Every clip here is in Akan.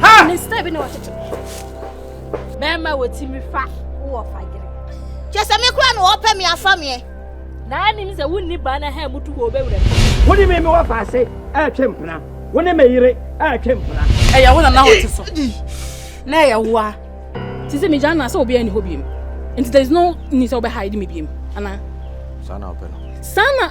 Ha! Ne style bi na ɔtete. Bɛrima wɔ ti mi fa wɔ fagere. Kyɛ sɛ me kura na wɔpɛ me afa meɛ. Na anim sɛ wonni baa na ha mutu wɔ ɔbɛwura mu. Wo ne me me wɔ faase ɛretwe mpena. Wo ne me yere ɛretwe mpena. Ɛyɛ wo na na wɔte so. Na ɛyɛ wo a. Te sɛ megya na sɛ obiara nni hɔ biem. Nti there is no need sɛ wobɛhide me biem anaa? Saa na wopɛ no. Saa na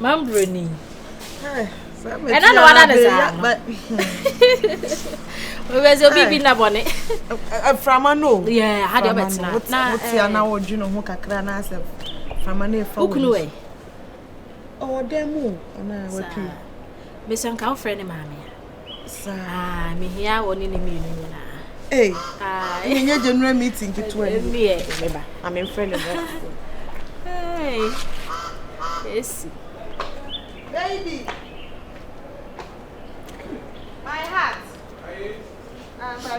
Mambrɛ ni. Ɛna na wada ne saa no. Wɛsɛ obi bi na bɔne. Aframa no. Yɛ ha deɛ ɔbɛtena. Na wotia na wodwe ne ho kakra na asɛ frama no efa wo. Okunu ɛ. Ɔwɔ dɛm o. Ɔna wapii. Mesɛ nka wo frɛ ne maame a. saa mehia wɔ ne ne mmienu nyinaa ei ɛnyɛ general meeting ketewa ni ɛmi yɛ meba ame mfrɛ no mmerɛ ei esi baby my heart ah, but I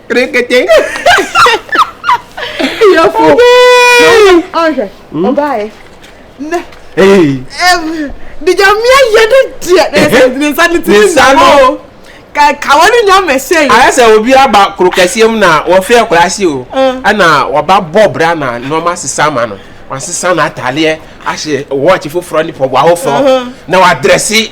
Brekete. Yɛfo. Ɔhwɛ. Ɔbaaɛ. Nɛ. Ee. Dijamia yɛ de deɛ. Ne nsa ne ti ne nsa no. Kawa ne nya mɛsɛ yi. Ayɛ sɛ obi aba kuro kɛseɛ mu na wɔfiri akora ase o. Ɛna wɔba bɔ bra na nneɛma sesa ama no. Wasesa n'atadeɛ ahyɛ wɔɔkye foforɔ ne pɔboa foforɔ na wadrɛse.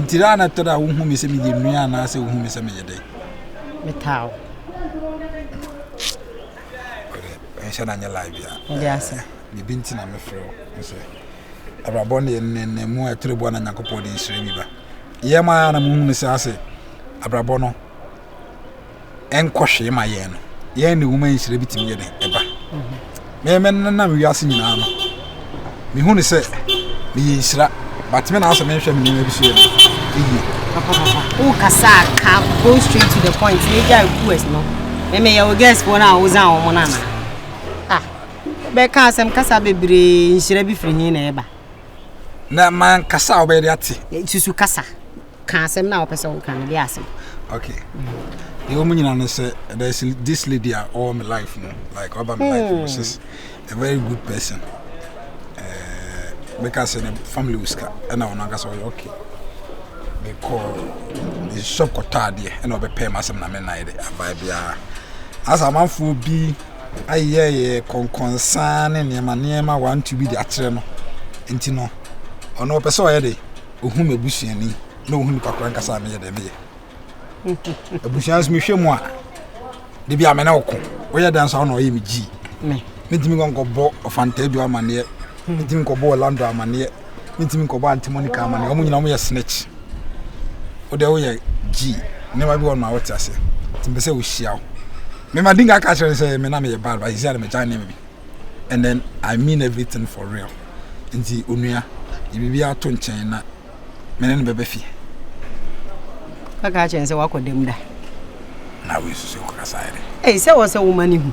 Nti dɛn na ɛtɔ da a wohu me sɛ meyɛ nua anaasɛ wohu me sɛ meyɛ dɛn? Metaa wo. Ɛnhyɛ na nyɛ live bia. Ɛde ase. Eh, biribi nti na mefrɛ wo. Nso abrabɔ ne nnɛnnɛ mu a ɛtore boa na Nyankopɔn de nhyira bi ba. Yɛ ma na muhu no sɛ ase abrabɔ no ɛnkɔ hwee ma yɛn no, yɛn ne nwoma nhyira bitumi yɛ dɛn ɛba? Mɛmɛnenam wiase nyinaa no, mehu ne sɛ meyɛ nhyira, batumi na asɛ menhwɛ me nneɛma bi so yɛ dɛn yie. Wokasa ka go straight to the point, ne gya request no, mɛmɛyɛ wo guest wɔn a wozan wɔn no anaa? Ah, bɛka asɛm kasa bebree nhyira bi firi he na ɛba? na mankasa a wobɛyɛ de ate susu kasa ka asɛm no a wɔpɛ sɛ wɔka no de ase. Okay. Deɛ wɔn nyinaa no sɛ there is this lady a ɔwɔ my life mu like ɔba my life mu she's a very good person. Meka sɛ ne family wɔ sika ɛna wɔn ankasa ɔyɛ okay. Mekɔ ne shop kɔtɔ adeɛ ɛna ɔbɛpɛ mu asɛm na me nan de abae biara. Asa amanfoɔ bi ayɛ yɛ kɔnkɔnsaa ne nneɛma nneɛma wantu bi de akyerɛ no nti no ɔno ɔpɛ sɛ ɔyɛ de. Ohun me busuani na ohun nipa koro ankasa a meyɛ dɛ meyɛ. Abusua nso mehwɛ mu a, de bi a me ne ɔko. Woyɛ dɛ nso a ɔna ɔyɛ me gyi. Mentumi nkɔ nkɔbɔ ɔfanta adu amaneɛ. Mentumi nkɔbɔ Orlando amaneɛ. Mentumi nkɔbɔ Auntie Monica amaneɛ. Wɔn nyinaa wɔyɛ snitch. Wo deɛ woyɛ gyi. Nneɛma bi wɔ no a wote aseɛ. Nti mpɛ sɛ wohyia wo. Mema di nka aka kyerɛ no sɛ me na meyɛ bad but ɛsi a na megyae nneɛma bi. and then I mean everything for real nti onua yɛ biribiara to nkyɛn na mene no bɛbɛ fie. Kaka akyerɛ sɛ wakɔ dɛm da. Na wo esusu kɔ kasa yɛ dɛ. Ɛyi sɛ wɔsɛ wo ma ne hu.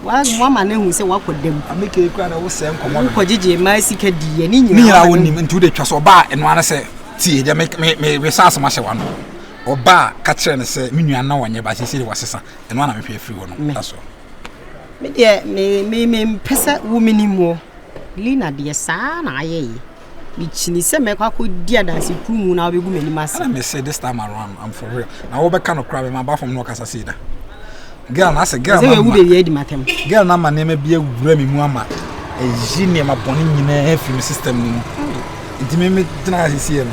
Wama ne hu sɛ wakɔ dɛm. Amike ekura na wosɛ nkɔmɔ no. Wokɔ gyegye mmaa sika di yɛ ne nyinaa. Ne nyinaa wo nim nti wode twa so ɔbaa ɛno ara sɛ tie deɛ me me me sa asɛm ahyɛ wano. Ɔbaa ka kyerɛ ne sɛ me nua na wɔnyɛ ba sisi de wɔsesa ɛno ara na mehwɛ afiri hɔ no. That's all. Me deɛ me me me mpɛ sɛ wo me nim wɔ. Lina deɛ saa na ayɛ yi. Me kyini sɛ mɛkɔ akɔ di adansi kuru mu na wobɛgu m'anim ase. Ɛna me say this time around I'm for real. Na wo bɛka no kura me ma ba fam na ɔkasa sei da. Girl na sɛ girl na. Sɛ yɛwu bɛ wiɛ di matam. Girl na ma nneɛma bi awura me mu ama ɛyi nneɛma bɔne nyinaa firi me system no mu. Nti me me gyina ha sisi no.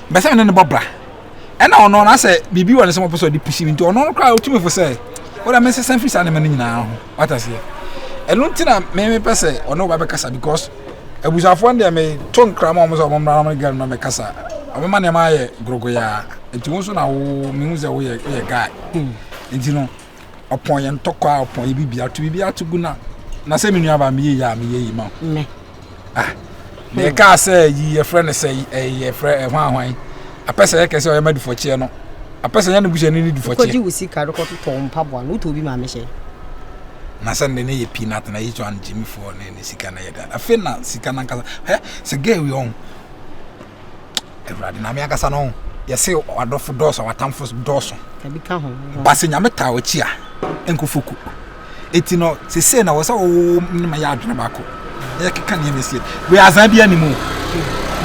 Mepɛ sɛ me ne no bɔ bra. Ɛna ɔno no asɛ biribi wɔ ne sɛ ɔpɛ sɛ ɔde pusi me nti ɔno no koraa ɔtumi fo sɛ wode me nsesa firi saa nneɛma no nyinaa ho wata aseɛ ɛno nti na me mepɛ sɛ ɔne woba bɛkasa because abusuafoɔ no deɛ meto nkra ma ɔmo sɛ ɔmo mmra na ɔmo gɛm no bɛkasa ɔbɛma nneɛma ayɛ gorogoyaa nti wo nso na wo mehu sɛ woyɛ woyɛ guy nti no ɔpɔn yɛ ntɔkwa a ɔpɔn yɛ biribi ato biribi ato gu na na sɛ me nua ba meyɛ yi a meyɛ yi ma wo ah na ɛkaa sɛ yi yɛfrɛ no sɛ yɛfrɛ ɛho ahwan apɛ sɛ yɛkɛ sɛ ɔyɛ ma dufɔkyeɛ no apɛ sɛ yɛne buhyɛ ne ne dufɔkyeɛ wo sika no kɔtotɔ mpaboa no wotɔ bi ma mehyɛ na sɛ ne ne yɛ pii nata na yi tɔ an gyimifoɔ ne ne sika no yɛ da afei na sika no ankasa hɛ sɛ gɛ wi ɔn Awurade, Nyame ankasa no, yɛse ɔadɔfo dɔɔso, ɔatamfo dɔɔso. Ebi ka ho. Ba se Nyame taa ɔkyi a, enko foku. Eti no, sese na wɔsɛ wɔwɔ ne ma yɛ adwene baako. Na yɛkeka nneɛma esie. Wei azan bi anim o.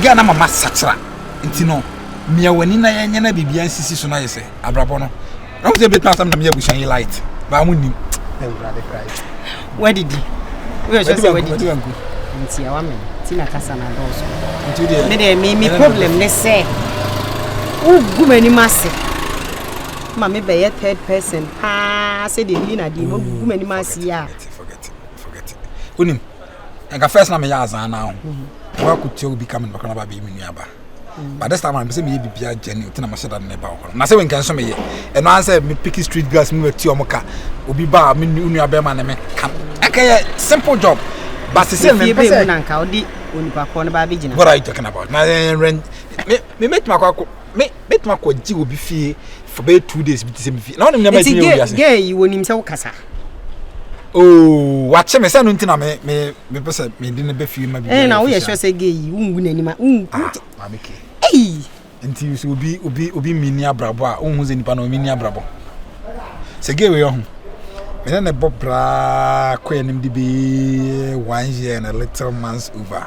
Gɛ na mama sakyera. Enti no, mia w'ani na yɛnyɛ na biribiara nsisi so na yɛsɛ abrabɔ no. na wo sɛ bɛtumi asɛm na meyɛ abusua yi light baa mo nnim wadidi woyɛhwɛ sɛ wadidi ntia wa me ti na kasa na dɔɔso me deɛ me me problem ne sɛ wogu m'anim ase ma mebɛyɛ third person paa sɛdeɛ meyi na deɛ magu m'anim ase yi a wonim nka first na meyɛ azaa no ho mhm. woakɔtia obi ka me nɔkra no ba bɛyi me nuaba but this time around sɛ meyɛ biribi agyɛ ne nti na mahyɛ da ne ba wɔ hɔ na sɛ wenka nso meyɛ ɛno ara sɛ mepiki street girls mu bɛti ɔmo ka obi ba a me nua bɛrima ne me ka ɛka yɛ simple job but sɛ sɛ mepɛ sɛ na nka ɔde onipa kɔ no ba bɛgyina what are you talking about na ɛnrɛn eh, me me mɛtumi akɔ me mɛtumi akɔ gye obi fie for bɛyɛ two days bi te sɛ me fie na ɔnim nneɛma ɛtumi yɛ obi ase gɛ yi wɔnim sɛ wokasa ooo wakye me sɛ no nti na me me me pɛ sɛ me de no bɛ fie ma bi. ɛna woyɛ sure sɛ gay yi wongu n'anim a wongu. ah maame ke. ɛyi. nti sɛ obi obi obi mi ni abrabɔ a ohun sɛ nipa na omi ni abrabɔ sɛ gay wei ɔho me ne ne bɔ braa kɔ anim de bee one year and a little months over.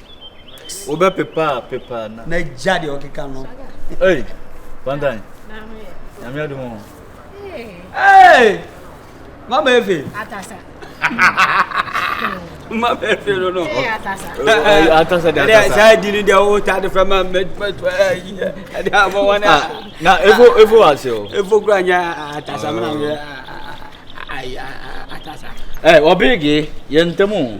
wobɛpepa a pepa na. na gya deɛ ɔkeka no. ei bantan nyame ade mu ei mama efe atasa mama efe no no atasa de atasa saa di ni deɛ wo ta de fɛ ma mɛ mɛ tɔ ɛyɛ ɛde abɔ wɔn na na efo efo wa se o efo kura nya atasa mena yɛ atasa ɛ ɔbɛrɛ ge yɛ ntɛmu.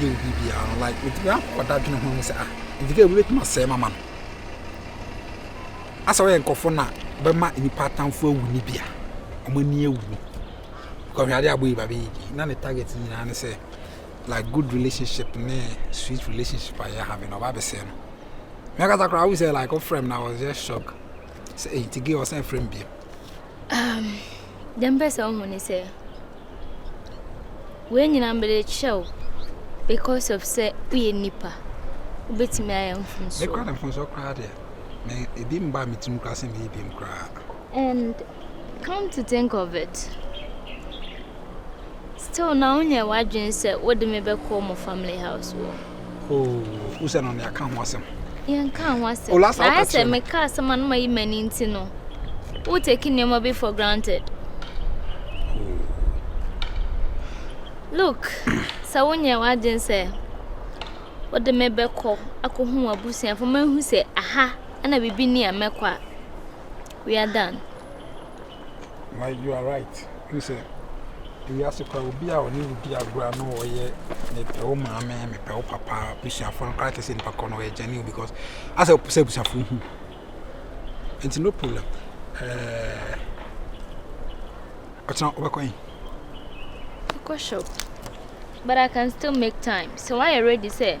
yɛ wo biribiara no like metumi akɔ ɔdadwene ho ahu sɛ ah nti kɛ obi bɛtumi asɛe mama no asɛ woyɛ nkɔfo na bɛma nnipa atamfo awu ne bia ɔmo ani awu no kɔhwɛ ade abɔ yi ba bɛyɛ bi na ne target nyinaa ne sɛ like good relationship ne sweet relationship a yɛ having ɔba bɛsɛe no mɛkasa koraa wo sɛ like wofrɛ m na I was just shock sɛ ɛyi nti gay ɔsan frɛ m bio um. Dza mepɛ dɛ muhu nye dɛ, wei nyina mede kyerɛ wo because of sɛ woyɛ nyimpa, wobɛtumi ayɛ mfomsoɔ. Me kora de mfomsoɔ koraa deɛ, me ebi mba me tirim koraa sɛ meyɛ bi koraa. And come to think of it, still na wonyɛ w'adwene sɛ wode me bɛkɔ mo family house wɔ. Oh, usa no ne aka ho asɛm. Yɛn ka ho asɛm. Olasa ɔka sɛ me ka asɛm anoma yi ma ni nti no. Wo take nneɛma bi for granted. Look, sɛ wonyɛ w'adwen sɛ wode me bɛkɔ akɔhu w'abusuafo mahu sɛ aha na biribi ni a mɛkɔ a we are done. na you are right wohu sɛ ewiase koraa obi a ɔne wo di agorɔ a na ɔyɛ mepɛ wo maame mepɛ wo papa abusuafoɔ no koraa te sɛ nipa kɔ no ɔyɛ gyane o because asɛ ɔpɛ sɛ abusuafoɔ hu nti no problem ɛɛ ɔkyena wobɛkɔ yi kɔ shop but I can still make time so why are you ready sɛ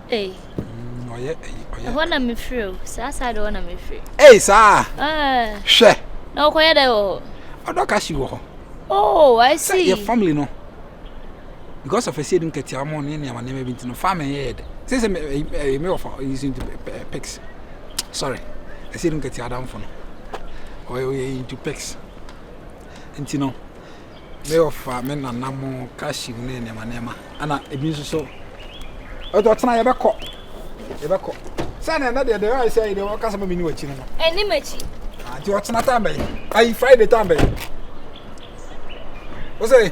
Ei. Mm, ɔyɛ ayi ɔyɛ. Ɛhɔ na mefiri o, saa saa de hɔ na mefiri. Ei saa. Ɛɛ. Hwɛ. Na ɔkɔyɛ dɛ wɔ hɔ. Ɔdɔ ka si wɔ hɔ. Oh, I see. Sɛ yɛ family no. Because of ɛsɛ dum kɛtɛ ɔmo ne nneɛma nneɛma bi nti no family yɛ yɛ dɛ. Sɛ sɛ ɛyɛ me wɔ fa using to pics. Sorry. Ɛsɛ dum kɛtɛ adamfo no. Ɔyɛ ɔyɛ into pics. Nti no. Me ɔfa me nana mo kashi mu ne nneɛma nneɛma ɛna ebi nso so ɛdɔ tena yɛbɛkɔ yɛbɛkɔ sɛ na ɛnɛ deɛ deɛ ayɛ sɛ deɛ wɔka sɛ ma mene wakyi no no ɛne makyi nti ɔtena tan bɛyi ayi friday tan bɛyi wo sɛ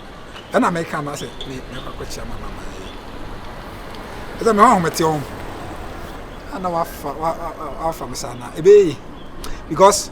ɛna meka ama sɛ me mekɔ akɔkyia mama ma yɛ ɛsɛ mɛ ɔhomete ɔho ana wafa wafa me saa na ɛbɛyɛ because